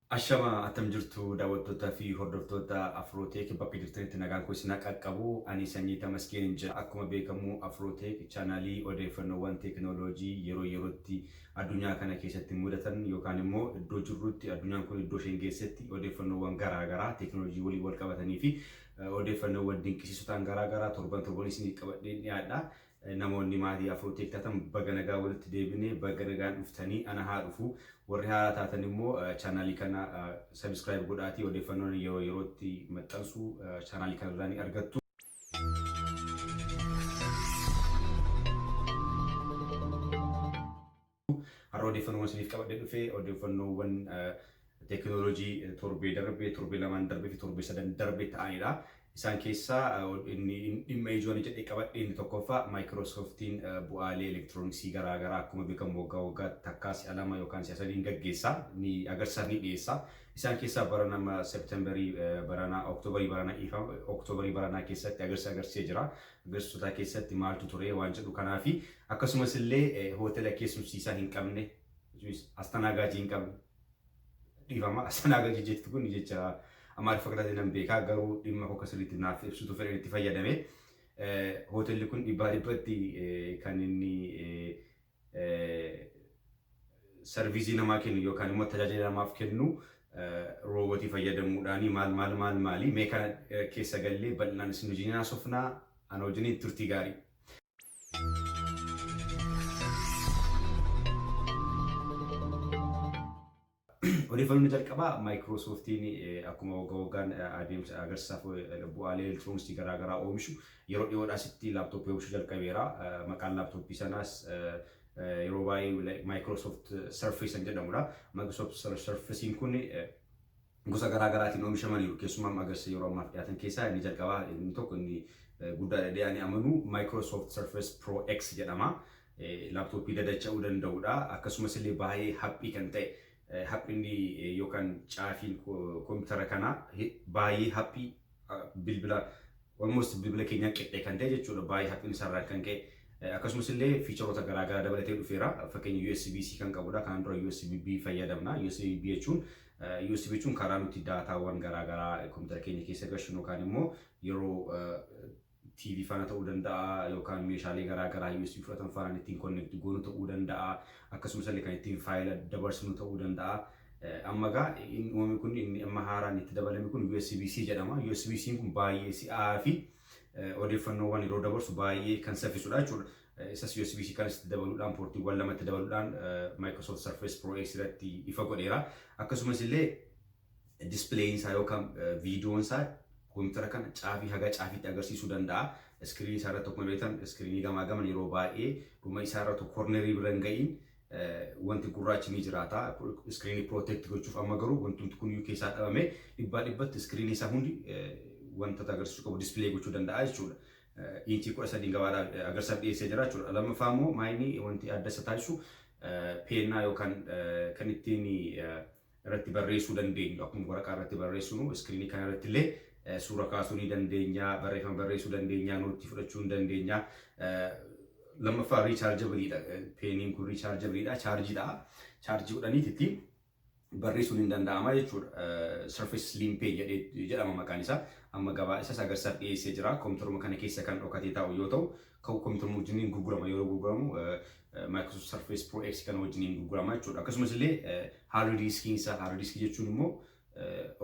Ashama attam jirtu daawwattoota fi hordoftoota Afrooteek bakka jirtanitti nagaan koo isin qaqqabu ani sanyii Tamaskiinin jedha. Akkuma beekamu Afrooteek chaanaalii odeeffannoowwan teekinooloojii yeroo yerootti addunyaa kana keessatti mudatan yookaan immoo iddoo jirrutti addunyaan kun iddoo isheen geessetti odeeffannoowwan garaa garaa teekinooloojii waliin wal qabatanii fi Odeeffannoowwan dinqisiisotaan garaa garaa torban torban isiniif qabadheen dhiyaadha. Namoonni maatii Afro Tech taatan baga nagaan walitti deebine, baga nagaan dhuftanii ana haa dhufu. Warri haaraa taatan immoo chaanaalii kana subscribe godhaatii odeeffannoon ani yeroo yerootti maxxansu chaanaalii kana irraa ni argattu. Har'a odeeffannoowwan isiniif qabadhee dhufe odeeffannoowwan teekinooloojii torbee darbe, torbee lamaan darbee fi torbee sadan darbe ta'anidha. Isaan keessaa inni dhimma ijoo ani jedhee qabadhe inni tokkoffaa Maayikiroosooftiin bu'aalee elektirooniksii garaa garaa akkuma beekamu waggaa waggaatti takkaa si'a lama yookaan si'a sadiin gaggeessa ni agarsiisaaf ni dhiyeessa. Isaan keessaa bara nama Seeptemberii baranaa Oktoobarii baranaa dhiifama Oktoobarii baranaa keessatti agarsiisa agarsiisee jira. Gaazexootaa keessatti maaltu ture waan jedhu kanaa fi akkasumas illee hootela keessumsiisaa hin qabne astanaagaajii hin qabne dhiifama astanaagaajii jetti kun jecha amaariffa qixaatee nan beekaa garuu dhimma koo kasirriitti naaf ibsutu fedhan itti fayyadame hootelli kun dhibbaa dhibbatti kan inni sarviisii namaa kennu yookaan immoo tajaajila namaaf kennu roobotii fayyadamuudhaan maal maal maal maali mee kana keessa gallee bal'inaan isin wajjin haasofnaa ana wajjin turtii gaarii. Odeeffannoon jalqabaa Maayikiroosooftiin akkuma wagga waggaan adeemsa agarsiisaaf bu'aalee elektirooniksii garaa garaa oomishu yeroo dhiyoodhaa asitti laaptooppii oomishuu jalqabeera. Maqaan laaptooppii sanaas yeroo baay'ee Maayikiroosoft Surface kan jedhamudha. Maayikiroosoft Surface'n kun gosa garaa garaatiin oomishamaniiru. Keessumaa agarsiisa yeroo ammaaf dhiyaatan keessaa inni jalqabaa inni tokko inni guddaadha jedhee ani amanu Microsoft Surface Pro X jedhama. Laptop dadacha'uu danda'udha. Akkasumas illee baay'ee haphii kan ta'e haphinni yookaan caafiin koompitara kanaa baay'ee haphii bilbila almost bilbila keenyaa qixxee kan ta'e jechuudha. Baay'ee haphinni isaarraan kan ka'e. Akkasumas illee fiicharoota garaagaraa dabalatee dhufeera. Fakkeenya USB-C kan qabudha. Kanaan dura USB-B fayyadamna. USB-B jechuun USB jechuun karaa nuti daataawwan garaagaraa koompitara keenya keessa gashinu yookaan immoo yeroo TV faana ta'uu danda'a yookaan meeshaalee garaa garaa USB fudhatan faanaan ittiin connect goonu ta'uu danda'a. Akkasumas illee kan ittiin faayila dabarsinu ta'uu danda'a. Eh, Amma egaa inni uumame kun inni amma haaraan itti dabalame kun USB-C jedhama. USB-C'n kun baay'ee si'aa fi eh, odeeffannoowwan yeroo dabarsu baay'ee kan saffisudha jechuudha. Eh, Isas USB-C kanas itti dabaluudhaan poortiiwwan lamatti dabaluudhaan eh, Microsoft Surface Pro X irratti ifa godheera. Akkasumas illee displeeyin isaa yookaan viidiyoon isaa koompitara kana caafii haga caafiitti agarsiisuu danda'a. Iskiriinii isaa irratti akkuma beektan iskiriinii gamaa gaman yeroo baay'ee dhuma isaa irra tokko kornerii bira hin ga'iin wanti gurraachi ni jiraata. Iskiriinii protect gochuuf amma garuu wantumti kun iyyuu keessaa dhabame dhibbaa dhibbatti iskiriinii isaa hundi wanta agarsiisuu qabu displee gochuu danda'a jechuudha. Inchii kudha sadiin gabaadhaa agarsiisaaf dhiyeessee jira jechuudha. Lammaffaa immoo maayinii wanti adda isa taasisu peennaa yookaan kan ittiin irratti barreessuu dandeenyu. Akkuma waraqaa irratti barreessinu iskiriinii kana irratti illee suura kaasuu ni dandeenya, barreeffama barreessuu dandeenya, noottii fudhachuu ni dandeenya. Lammaffaa riichaarjabiliidha. Peeniin kun riichaarjabiliidha, chaarjii ta'a. Chaarjii godhaniiti ittiin barreessuun hin danda'ama jechuudha. Surface Slim Pen jedhama maqaan isaa. Amma gabaa isas agarsiisaaf dhiyeessee jira. Kompiitaruma kana keessa kan dhokatee taa'u yoo ta'u, ka'u computer wajjin hin gurgurama yeroo gurguramu Microsoft Surface Pro X kana wajjin hin gurgurama jechuudha. Akkasumas illee hard diskiin isaa hard diskii jechuun immoo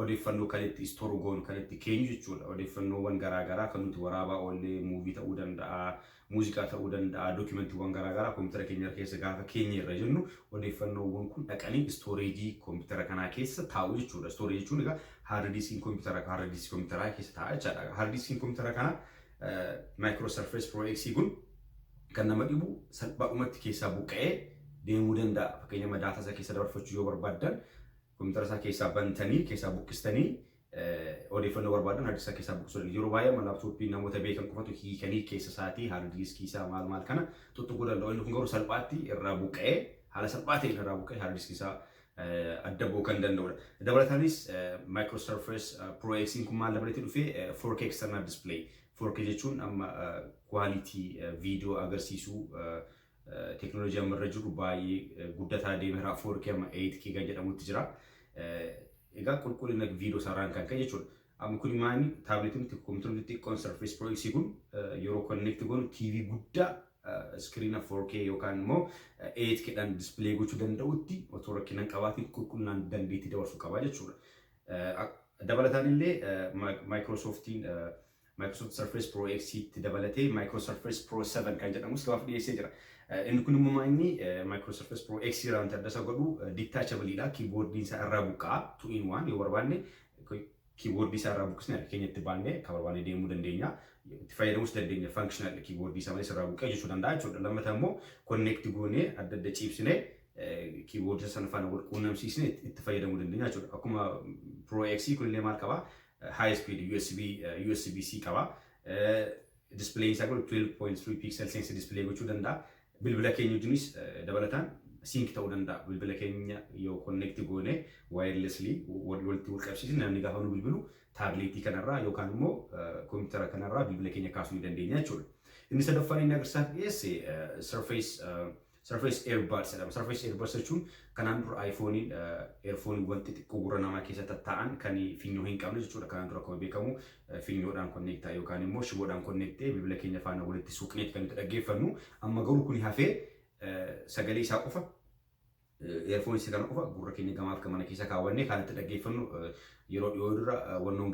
odeeffannoo kan itti store goonu kan itti keenyu jechuudha. Odeeffannoowwan garaa garaa kan nuti waraabaa oollee muuvii ta'uu danda'a, muuziqaa ta'uu danda'a, dookumentiiwwan garaa garaa koompitara keenya irra keessa gaafa keenya irra jennu odeeffannoowwan kun dhaqanii istooreejii koompitara kanaa keessa taa'u jechuudha. Istooreejii jechuun egaa hard diskiin koompitara hard diskii koompitaraa keessa taa'a jechaadha. Hard diskiin koompitara kanaa Micro Surface Pro X kun kan nama dhibu salphaadhumatti keessaa buqqa'ee deemuu danda'a. Fakkeenyaaf daataa isaa keessa dabarfachuu yoo barbaaddan kompiitara isaa keessaa bantanii keessaa buqqistanii odeeffannoo barbaadan hardii isaa keessaa buqqisuu danda'u. Yeroo baay'ee amma laaptooppii namoota beekan qofatu hiikanii keessa isaatii hardii diiskii isaa maal maal kana tuttuquu danda'u. Inni kun garuu salphaatti irraa buqqa'ee haala salphaa ta'een irraa buqqa'ee hardii diiskii isaa adda ba'uu kan danda'udha. Dabalataanis Micro Surface Pro X kun maal dabalatee dhufee 4K external display 4K jechuun amma quality viidiyoo agarsiisuu teknooloojii amma irra jiru baay'ee guddataa deemeera 4K amma 8K kan jedhamutti jira. Egaa qulqullina viidiyoo isaarraan kan ka'e jechuudha. Amma kuni maani taableetiin nuti kompiitara nuti xiqqoon Surface Pro X kun yeroo connect goonu TV guddaa iskiriina 4K yookaan immoo 8K dhaan display gochuu danda'utti otoo rakkina hin qabaatiin qulqullinaan dandeettii dabarsuu qaba jechuudha. Dabalataan illee Microsofttiin Microsoft Surface Pro X tti dabalatee Micro Surface Pro 7 kan jedhamus gabaaf dhiyeessee jira. Inni kun immoo maa'inni Micro Surface Pro X irraa wanti adda isa godhu detachable dha. Keyboard'n isaa irraa buqqa'a. Two in one yoo barbaanne kiiboordii isaa irraa buqqisne harka keenya itti baannee akka barbaanne deemuu dandeenya. Itti fayyadamuus dandeenya functional kiiboordii isaa malees irraa buqqee jechuu danda'a jechuudha. Lammata immoo connect goonee adda adda ciibsine kiiboordii sana faana wal quunnamsiisne itti fayyadamuu dandeenya jechuudha. Akkuma Pro X kunillee maal qaba? High speed USB USB C qaba. Displeen isaa kun 12.3 pixel sense display gochuu danda'a. Bilbila keenya wajjinis dabalataan sync ta'uu danda'a. Bilbila keenya yoo connect goone wirelessly walitti wal qabsiisne namni gaafa nu bilbilu taableetii kanarraa yookaan immoo kompiitara kanarraa bilbila keenya kaasuu ni dandeenya jechuudha. Inni sadaffaan inni agarsiisaaf dhiyeesse surface surface earbuds jedhama. Surface earbuds jechuun kanaan dura iPhone'iin earphone'iiwwan xixiqqoo gurra namaa keessa tattaa'an kan finyoo hin qabne jechuudha. Kanaan dura akkuma beekamu Finyoodhaan konneektaa yookaan immoo shiboodhaan konneektee bilbila keenya faana walitti suuqneeti kan nuti dhaggeeffannu. Amma garuu kuni hafee sagalee isaa qofa eerfoon isa kana qofa gurra keenya gamaaf gamana keessa kaawwannee kan itti dhaggeeffannu yeroo dhiyoo dura wannoon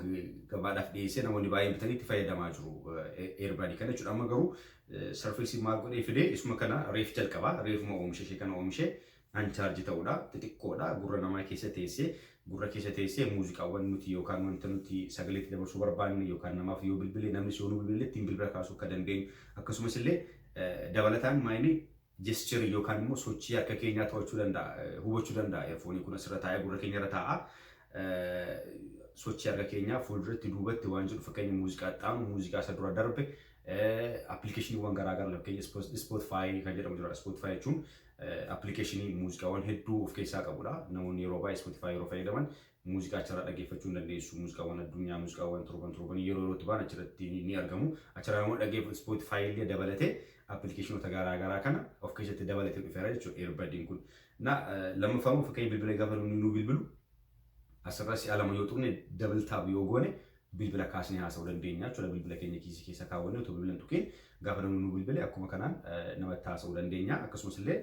gabaadhaaf dhiyeessee namoonni baay'een bitanii itti fayyadamaa jiru eerbaadii kana jechuudha. Amma garuu sarfeesii maal godhee fidee isuma kana reef jalqaba reefuma oomishe ishee kana oomishe Uncharge ta'udha. Xixiqqoodha. Gurra namaa keessa teesse. Gurra keessa teessee muuziqaawwan nuti yookaan wanta nuti sagalee itti dabarsuu barbaanne yookaan namaaf yoo bilbille namnis yoo nu bilbille ittiin bilbila kaasuu akka dandeenyu akkasumas illee dabalataan maayini jescherii yookaan immoo sochii harka keenyaa to'achuu danda'a hubachuu danda'a eerfoonii kun asirra taa'ee gurra keenya irra taa'a sochii harka keenyaa fuulduratti duubatti waan jedhu fakkeenya muuziqaa xaanu muuziqaa isa dura darbe appilikeeshiniiwwan garaagaraa fakkeenya ispootfaayii kan jedhamu jira ispootfaayii jechuun Appilikeeshinii muuziqaawwan hedduu of keessaa qabudha. Namoonni yeroo baay'ee Spotify yeroo fayyadaman muuziqaa achirraa dhaggeeffachuu ni dandeessu. Muuziqaawwan addunyaa, muuziqaawwan torban torbanii yeroo yerootti ba'an achirratti ni argamu. Achirraa namoonni dhaggeeffatu Spotify illee dabalatee appilikeeshinoota garaa garaa kana of keessatti dabalatee dhufeera jechuudha earbadiin kun. Na lammaffaa immoo fakkeenya bilbila gaafa namni nuu bilbilu Asirra si'a lama yoo tuqne double tap yoo goone bilbila kaasnee haasa'uu dandeenya jechuudha. Bilbila keenya kiisii keessa kaawwannee otoo bilbila hin tuqiin gaafa namni nu bilbile akkuma kanaan namatti haasa'uu dandeenya. Akkasumas illee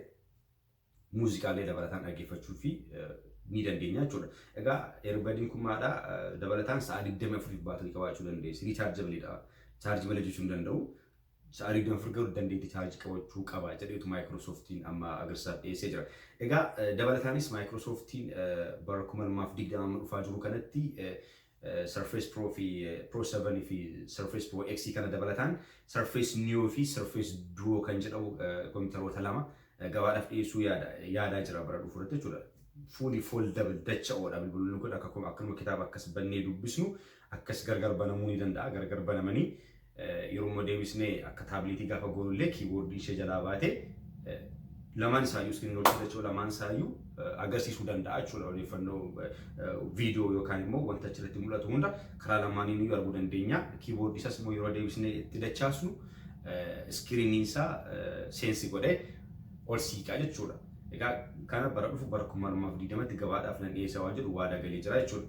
muuziqaa illee dabalataan dhaggeeffachuu fi ni dandeenya jechuudha. Egaa earbadiin kun maadha dabalataan sa'a 24f baatirii qabaachuu dandeessi. Riichaarjabiliidha. Chaarjii malee hojjechuu hin danda'u. Sa'aarii 24 garuu dandeetti chaarjii qabachuu qaba jedheetu Maayikiroosooftiin amma agarsaaf dhiyeessee jira. Egaa dabalataanis Maayikiroosooftiin bara 2020 amma dhufaa jiru kanatti Surface Pro fi Pro 7 fi Surface Pro X kana dabalataan Surface Neo fi Surface Duo kan jedhamu kompiitaroota lama gabaadhaaf dhiyeessuu yaada yaadaa jira bara dhufu irratti jechuudha. Fuuli foldable dacha'oodha bilbiloonni kun akka akkanuma kitaaba akkas bannee dubbisnu akkas gargar banamuu ni danda'a gargar banamanii Yeroo immoo deebisnee akka taabliitii gaafa goonu illee kiiboordiin ishee jalaa baate lamaan isaayyuu iskiriin hojii dachoo lamaan isaayyuu agarsiisuu danda'a jechuudha odeeffannoo viidiyoo yookaan immoo wanta achirratti mul'atu hunda karaa lamaaniin iyyuu arguu dandeenya. Kiiboordii isaas immoo yeroo deebisnee itti dachaasnu iskiriiniin isaa seensi godhee ol siiqaa jechuudha. Egaa kana bara dhufu bara 2020tti gabaadhaaf nan dhiyeessa waan jedhu waada galee jira jechuudha.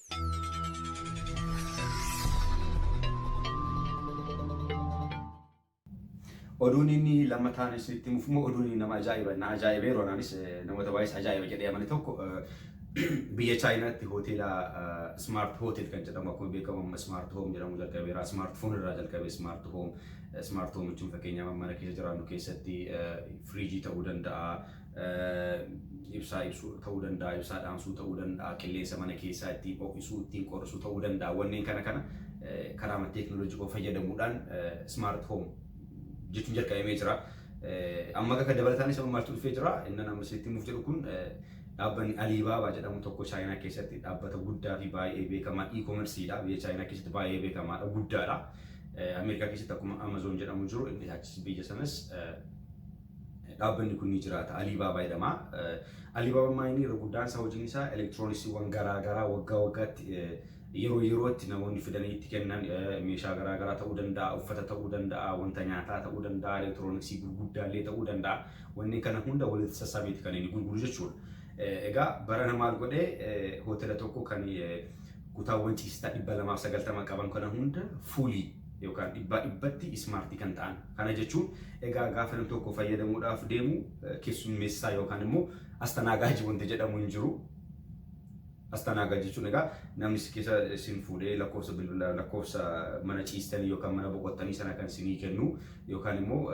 Oduun inni lammataan isinitti himuuf immoo oduun inni nama ajaa'iba na ajaa'ibee roonaanis namoota baay'ees ajaa'iba jedhee amane tokko biyya chaayinaatti hoteela smart hotel kan jedhamu akkuma beekamu amma smart home jedhamu jalqabeera smart phone irraa jalqabee smart home smart home jechuun fakkeenyaaf mana keessa jiraannu keessatti firiijii ta'uu danda'a ibsaa ibsuu ta'uu danda'a, ibsaa dhaamsuu ta'uu danda'a, qilleensa mana keessaa ittiin ho'isuu, ittiin qorrisuu ta'uu danda'a. Wanneen kana kana karaama teeknooloojii koo fayyadamuudhaan smart home jechuun jalqabamee jira. Amma akka dabalataanis amma maaltu dhufee jira? Innan amma isinitti himuuf jedhu kun dhaabbanni Aliibaabaa jedhamu tokko Chaayinaa keessatti dhaabbata guddaa fi baay'ee beekamaa e-commerceedha. Biyya Chaayinaa keessatti baay'ee beekamaadha, guddaadha. Ameerikaa keessatti akkuma Amazon jedhamu jiru, inni achis biyya sanas Dhaabbanni kun ni jiraata. Alibaba jedhama. Alibaba amma inni irra guddaan isaa hojiin isaa elektirooniksiiwwan garaa garaa waggaa waggaatti yeroo yerootti namoonni fidanii itti kennan meeshaa garaa garaa ta'uu danda'a, uffata ta'uu danda'a, wanta nyaataa ta'uu danda'a, elektirooniksii gurguddaa illee ta'uu danda'a. Wanneen kana hunda walitti sassaabeeti kan inni gurguru jechuudha. Egaa barana maal godhe hoteela tokko kan kutaawwan ciisichaa 290 qaban kana hunda fuulii yookaan dhibbaa dhibbatti ismaartii kan ta'an. Kana jechuun egaa gaafa nam tokko fayyadamuudhaaf deemu keessummeessaa yookaan immoo astanaagaajii wanti jedhamu hin jiru. Astanaagaa jechuun egaa namni si keessa isin fuudhee lakkoofsa bilbila lakkoofsa mana ciistanii yookaan mana boqottanii sana kan isinii kennu yookaan immoo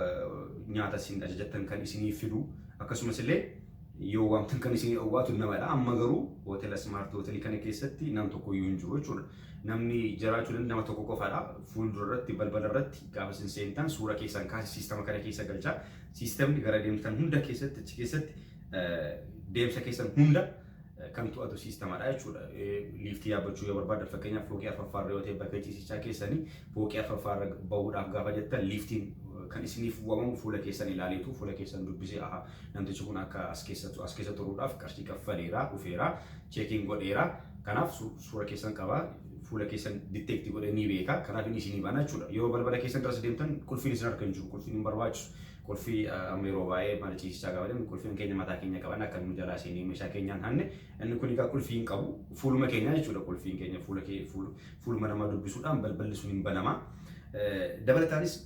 nyaata isin ajajattan kan isinii fidu akkasumas illee yoo waamtan kan isinii dhowwaatu namadha. Amma garuu hoteela ismaartii hoteelii kana keessatti nam tokko iyyuu hin jiru jechuudha. Namni jiraachuu danda'u nama tokko qofadha. Fuuldura irratti balbala irratti gaafa isin seentan suura keessan kaase siistama kana keessa galcha. Siistamni gara deemtan hunda keessatti achi keessatti deemsa keessan hunda kan to'atu siistamadha jechuudha. Liiftii yaabbachuu yoo barbaadan fakkeenyaaf fooqii arfaffaarra yoo ta'e bakka ciisichaa keessanii fooqii arfaffaarra bahuudhaaf gaafa jettan liiftiin kan isiniif waamamu fuula keessan ilaaleetu fuula keessan dubbisee aha namtichi kun akka as keessa as keessa turuudhaaf qarshii kaffaleera dhufeera cheekiin godheera kanaaf suura keessan qaba. Fuula keessan detect godhee ni beeka. Kanaaf inni isinii bana jechuudha. Yeroo balbala keessan duras deemtan qulfiin isin harka hin jiru. Qulfiin hin barbaachisu. Qulfii amma yeroo baay'ee mana ciisichaa gaafa deemnu qulfiin keenya mataa keenya qaban akka nu jalaa seenee meeshaa keenyaan hanne inni kun egaa qulfii hin qabu. Fuuluma keenya jechuudha qulfiin keenya fuula fuuluma namaa dubbisuudhaan balballi sun hin banama. Dabalataanis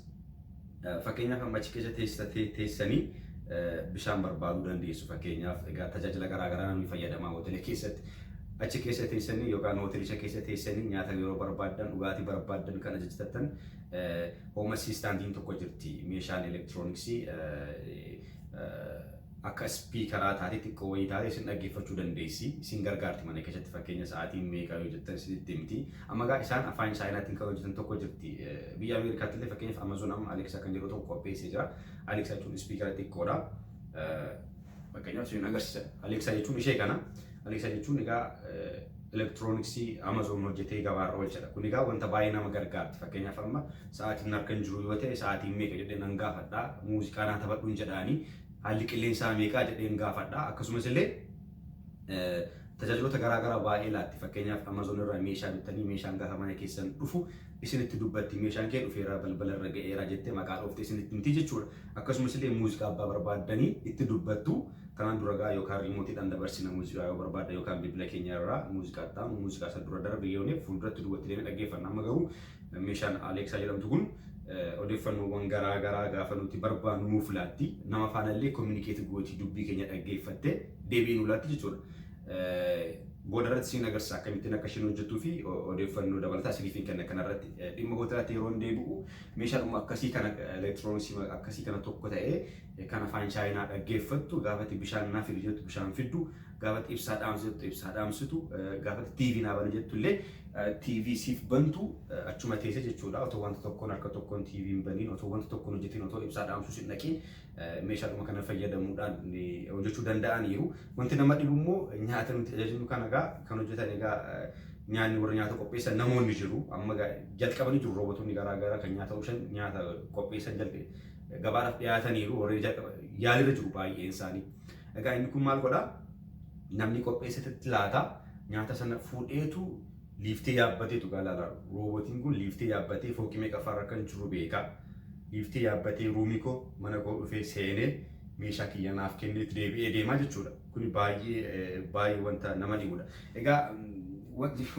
Fakkeenyaaf amma achi keessa teessa teessanii bishaan barbaaduu dandeessu. Fakkeenyaaf egaa tajaajila garaa garaa namni fayyadamaa hoteela keessatti achi keessa teessanii yookaan hoteelicha keessa teessanii nyaata yeroo barbaaddan dhugaatii barbaaddan kan ajajattan hooma siistaandiin tokko jirti meeshaan elektirooniksii Akka ispiikaraa taatee xiqqoo wayii taatee isin dhaggeeffachuu dandeessi. Isin gargaarti mana keessatti fakkeenya sa'aatiin meeqa yoo jettan isinitti himti. Amma egaa isaan afaan chaayinaatiin kan hojjetan tokko jirti. Biyya Ameerikaatti illee fakkeenyaaf Amazon amma Alexa kan jedhu tokko qopheessee jira. Alexa jechuun ispiikara xiqqoodha. Fakkeenyaaf isin agarsiisa. Alexa jechuun ishee kana. Alexa jechuun egaa elektirooniksii Amazon hojjetee gabaarra oolchadha. Kun egaa wanta baay'ee nama gargaarti. Fakkeenyaaf amma sa'aatiin harka hin jiru yoo ta'e sa'aatiin meeqa jedhee nan gaafadha. Muuziqaa naa taphadhuun jedhaanii Haalli qilleensaa meeqaa jedheen gaafadha. Akkasumas illee tajaajiloota garaa garaa baay'ee laatti. Fakkeenyaaf Amazon irraa meeshaa bittanii meeshaan gaafa mana keessan dhufu isinitti dubbatti meeshaan kee dhufeera balbala irra ga'eera jettee maqaa dhoofte isinitti himti jechuudha. Akkasumas illee muuziqaa abbaa barbaaddanii itti dubbattu kanaan dura gaa yookaan riimootiidhaan dabarsina muuziqaa yoo barbaadda yookaan bilbila keenya irraa muuziqaa itti aanu muuziqaa isa dura darbe yoo fuulduratti duwwatti deemee dhaggeeffanna. Amma garuu Meeshaan Aleeksaa jedhamtu kun odeeffannoowwan garaa garaa gaafa nuti barbaannu nuuf laatti. Nama faana illee kominikeetii gootii dubbii keenya dhaggeeffattee deebii nu laatti jechuudha. Booda irratti siin agarsiisa akkamittiin akka isheen hojjettuu fi odeeffannoo dabalataa isiniif hin kenna kanarratti. Dhimma hoteelaatti yeroon deebi'u meeshaadhuma akkasii kana elektirooniksii akkasii kana tokko ta'ee kan afaan chaayinaa dhaggeeffattu gaafatti bishaan naa fidi jettu bishaan fiddu gaafatti ibsaa dhaamsu jettu ibsaa dhaamsitu gaafatti TV naa bana jettu illee TV siif bantu achuma teesse jechuudha otoo wanta tokkoon harka tokkoon TV hin baniin otoo wanta tokkoon hojjetiin otoo ibsaa dhaamsuus hin dhaqiin meeshaadhuma kana fayyadamuudhaan hojjechuu danda'aniiru wanti nama dhibu immoo nyaata nuti ajajnu kana egaa kan hojjetan egaa nyaanni warra nyaata qopheessan namoonni jiru amma jalqabanii jiru roobotonni garaa garaa kan nyaata omishan nyaata qopheessan gabaadhaaf dhiyaataniiru warreen jalqaba yaalirra jiru baay'een isaanii. Egaa inni kun maal godha? Namni qopheessetetti laata nyaata sana fuudheetu liiftee yaabbateetu gaa laala. Roobootiin kun liiftee yaabbatee fooqii meeqaffaarra kan jiru beeka. Liiftee yaabbatee ruumii koo mana koo dhufee seenee meeshaa kiyya naaf kenneetti deebi'ee deemaa jechuudha. Kuni baay'ee baay'ee wanta nama dhibudha. Egaa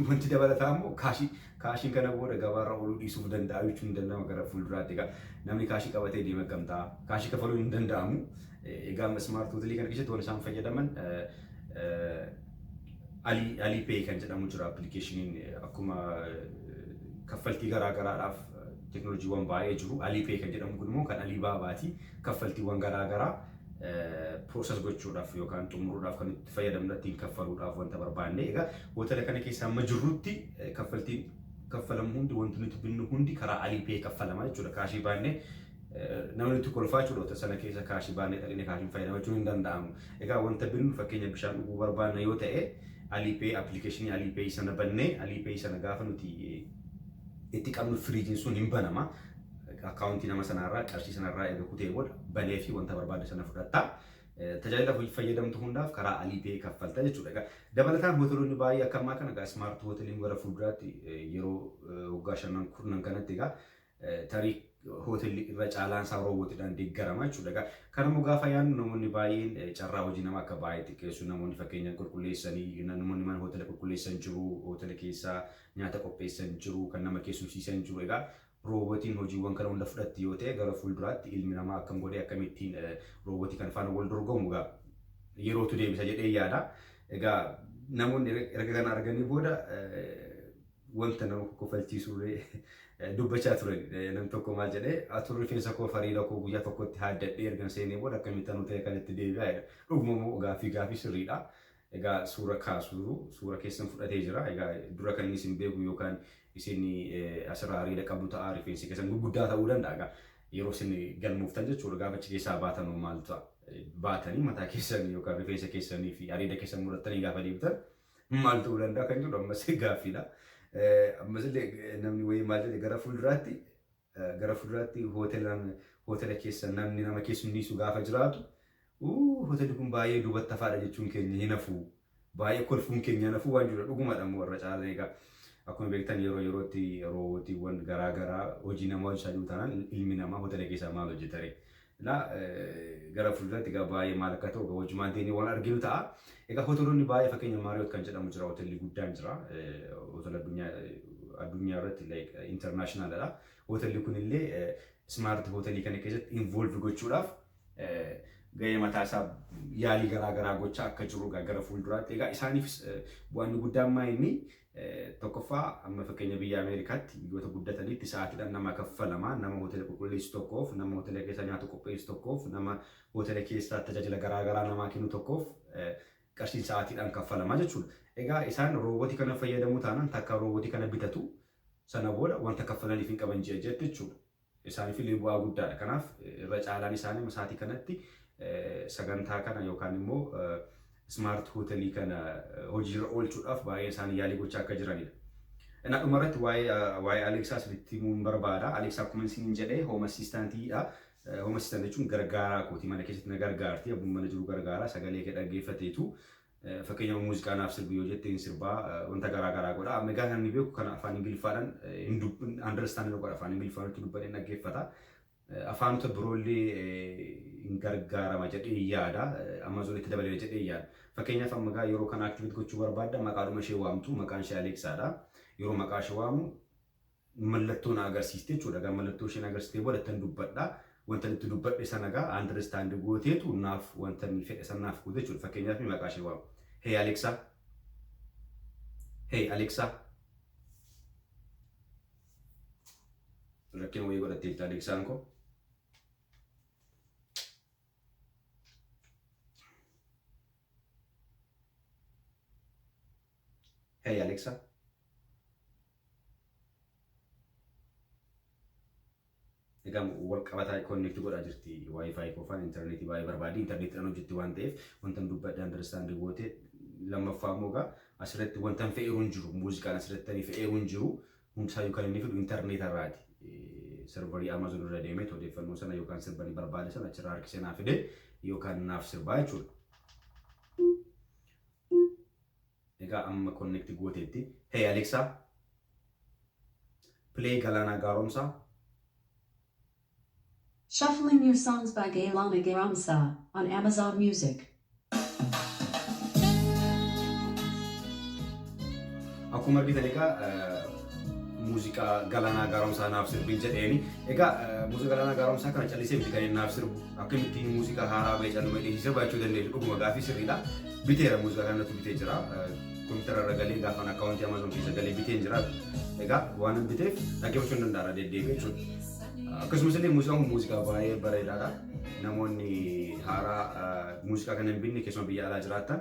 wanti dabalataa immoo kaashii Kaashiin kana booda gabaarra ooluu dhiisuuf danda'a jechuun hin danda'ama gara fuulduraatti. Egaa namni kaashii qabatee deema akkam ta'a? Kaashii kafaluun hin danda'amu. Egaa amma smart hotelii kana keessatti waan isaan fayyadaman alii alii pay kan jedhamu jira appilikeeshiniin akkuma kaffaltii garaa garaadhaaf teknooloojiiwwan baay'ee jiru. Alii pay kan jedhamu kun immoo kan alii baabaati kaffaltiiwwan garaa garaa piroosas gochuudhaaf yookaan xumuruudhaaf kan nutti fayyadamna ittiin kaffaluudhaaf wanta barbaanne. Egaa hootela kana keessa amma jirrutti kaffaltiin kaffalamu hundi wanti nuti binnu hundi karaa Alipay kaffalama jechuudha. Kaashii baannee namni nutti kolfaa jechuudha hootela sana keessa kaashii baannee dhaqnee kaashiin fayyadama jechuun hin danda'amu. Egaa wanta binnu fakkeenya bishaan dhuguu barbaanna yoo ta'e Alipay appilikeeshinii Alipay sana bannee Alipay sana gaafa nuti itti qabnu firiijiin sun hin banama. Akkaawuntii nama sanarraa qarshii sanarraa erga kutee booda banee fi wanta barbaadde sana fudhatta. Tajaajila fayyadamtu hundaaf karaa Alipay kaffalta jechuudha. Egaa dabalataan hoteelonni baay'ee akka ammaa kana egaa smart hoteeliin gara fuulduraatti yeroo waggaa shanan kurnan kanatti egaa tarii hoteelli irra caalaan isaa roobootiidhaan deeggarama jechuudha. Egaa kanammoo gaafa yaadnu namoonni baay'een carraa hojii nama akka baay'ee xiqqeessu namoonni fakkeenyaan qulqulleessanii namoonni mana hoteela qulqulleessan jiru hoteela keessaa nyaata qopheessan jiru kan nama keessumsiisan jiru egaa Roobotiin hojiiwwan kana hunda fudhatti yoo ta'e gara fuulduraatti ilmi namaa akkam godhee akkamittiin roobotii kana faana wal dorgomu egaa yerootu deebisa jedhee yaada. Egaa namoonni er- erga kana arganii booda eh, wanta nama kokkofalchiisullee eh, dubbachaa turan. Eh, Nam tokko maal jedhee atuu rifeensa koo fariida koo guyyaa tokkotti haaddadhee ergan seenee booda akkamittan ta'e kanatti deebi'aa jedha. Dhuguma immoo gaaffii gaaffii sirriidha. Egaa suura kaasu jiru. Suura keessan fudhatee jira. Egaa dura kan inni isin beeku yookaan isin asirraa areeda qabdu ta'a. Rifeensi keessan gurguddaa ta'uu danda'a. Egaa yeroo isin galmooftan jechuudha. Gaafa achi keessaa baatan hoo maal ta'a? Baatanii mataa keessan yookaan rifeensa keessanii fi areeda keessan murattanii gaafa deebitan maal ta'uu danda'a kan jedhu ammas gaaffiidha. Ammas illee namni wayii maal jedhe gara fuulduraatti Gara fulduraatti hootelaan hootela keessa namni nama keessummiisu gaafa jiraatu uu hootelli kun baay'ee duubatti hafaadha jechuun keenya hin hafu. Baay'ee kolfuun keenya hin hafu waan jirudha. Dhugumadha immoo irra caalaan egaa akkuma beektan yeroo yerootti roobootiiwwan garaa garaa hojii namaa hojjechaa jiru taanaan ilmi namaa hootela keessaa maal hojjetare? Egaa gara fuulduratti egaa baay'ee maal akka ta'u egaa wajumaan teenyee waan arginu ta'a. Egaa hoteelonni baay'ee fakkeenya Maariyoot kan jedhamu jira hoteelli guddaan jira. Hoteela addunyaa addunyaa irratti like international dha. Hoteelli kun illee smart hoteelii kana keessatti involve gochuudhaaf gahee mataa isaa yaalii garaa garaa gochaa akka jiru egaa gara fuulduraatti egaa isaaniifis bu'aan inni guddaan maa inni Tokkoffaa, amma fakkeenya biyya Ameerikaatti, biyyoota guddataniitti sa'aatiidhaan nama kaffalama. Nama hoteela qulqulleessu tokkoof, nama hoteela keessaa nyaata qopheessu tokkoof, nama hoteela keessaa tajaajila garaa garaa namaa kennu tokkoof qarshiin sa'aatiidhaan kaffalama jechuudha. Egaa isaan roobootii kana fayyadamuu taanaan takka roobootii kana bitatu, sana booda wanta kaffalaniif hin qaban ji'a ji'atti jechuudha. Isaaniif illee bu'aa guddaa dha. Kanaaf irra caalaan isaanii sa'aatii kanatti sagantaa kana yookaan immoo Smart Hotel kana hojii irra oolchuudhaaf baay'een isaanii yaalii gochaa akka jirani dha. Innaa dhuma irratti waa'ee Aleeksaa isinitti himuun barbaada. Aleeksaa akkuma isiniin jedhe Home Assistant dha. Home Assistant jechuun gargaaraa kooti. Mana keessatti na gargaarti. Abbuma mana jiru gargaara. Sagalee kee dhaggeeffateetu Fakkeenyaaf muuziqaa naaf sirbi yoo jette hin sirbaa wanta garaa garaa godha. Amma egaa namni beeku kana afaan Ingiliffaadhaan hin dub- hin understand hin godha. Afaan Ingiliffaan nutti dubbadhee hin dhaggeeffata. Afaanota biroollee hin gargaarama jedhee yaada. Amazon itti dabaleera jedhee hin yaada. Fakkeenyaaf amma egaa yeroo kana activate gochuu barbaadda maqaadhuma ishee waamtu maqaan ishee Aleeksaadha. Yeroo maqaa ishee waamu mallattoo na agarsiiste jechuudha. Egaa mallattoo isheen agarsiistee booda ittan dubbadha. Wantan itti dubbadhe sana egaa understand gooteetu naaf wanta inni fedhe sana naaf goote jechuudha. Fakkeenyaaf maqaa ishee waama. Hey Alexa. Hey Alexa. Rakkina wayii godhatteetti Alexaan koo. Hey Alexa. Egaa wal qabataa konneekti godhaa jirti wifi koofaan intarneetii baay'ee barbaadi intarneetiidhaan hojjetti waan ta'eef wantan dubbadhe andarstaandi goote lammaffaa immoo egaa asirratti wantan fe'eeru hin jiru muuziqaan asirratti fe'eeru hin jiru hundisaayyuu kan inni fidu intarneetarraati servarii Amazon irra deemee odeeffannoo sana yookaan sirba ni barbaade sana achirraa harkisee naa fide yookaan naaf sirbaa jechuudha. Egaa amma connect gooteetti. Hey Alexa, play Galaanaa Gaaromsaa. Shuffling New Songs by Galaana Gaaromsaa on Amazon Music. Akkuma argitan egaa muuziqaa Galaanaa Gaaromsaa naaf sirbi jedheeni. Egaa muuziqaa Galaanaa Gaaromsaa kana callisee miti kan inni naaf sirbu. Akkamitti muuziqaa haaraa ba'e caaluma hidhiisii sirbaachuu dandeessu dhuguma gaaffii sirriidha. Biteera muuziqaa kana natti bitee jira. Kompiitara irra galee gaafan akkaawuntii Amazon keessa galee biteen jira. Egaa waan hin biteef dhaggeeffachuu hin danda'ara deddeebi'ee jechuudha. Akkasumas illee muuziqaan kun muuziqaa baay'ee bareedaadha. Namoonni haaraa muuziqaa kana hin binne keessumaa biyya alaa jiraattan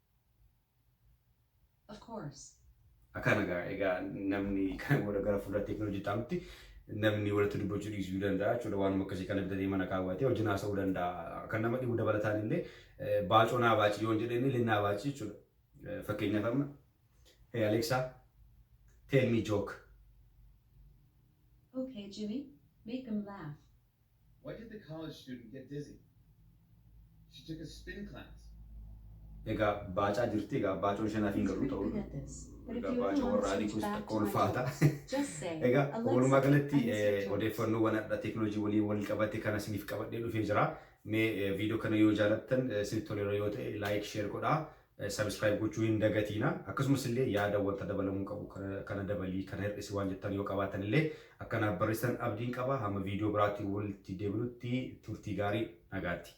Of course. Akkana egaa egaa namni kana booda gara fuula teekinooloojii taanutti namni walitti dubbachuu dhiisuu danda'a jechuudha waanuma akkasii kana bitatee mana kaawwatee wajjin haasa'uu danda'a kan nama dhibu dabalataan illee baacoo naa baacii yoon jedhee illee naa baacii jechuudha fakkeenyaaf amma hey Alexa tell me joke Okay, Jimmy, make them laugh. Why did the college student get dizzy? She took a spin class. Egaa baacaa jirti egaa baacoo ishee naaf hin galuu ta'uu egaa baacoo warra adii kunis takka ulfaata egaa walumaa galatti odeeffannoowwan adda teeknooloojii waliin wal qabate kana isiniif qabadhee dhufee jira mee viidiyoo kana yoo jaalattan isinitti toleera yoo ta'e laayik sheer godhaa Subscribe gochuu hin dagatiina. Akkasumas illee yaada wanta dabalamuu qabu kana dabalii kana hir'isi waan jettan yoo qabaatan illee akka naaf barreessitan abdiin qaba. Hamma viidiyoo biraatiin walitti deebinutti turtii gaarii nagaatti.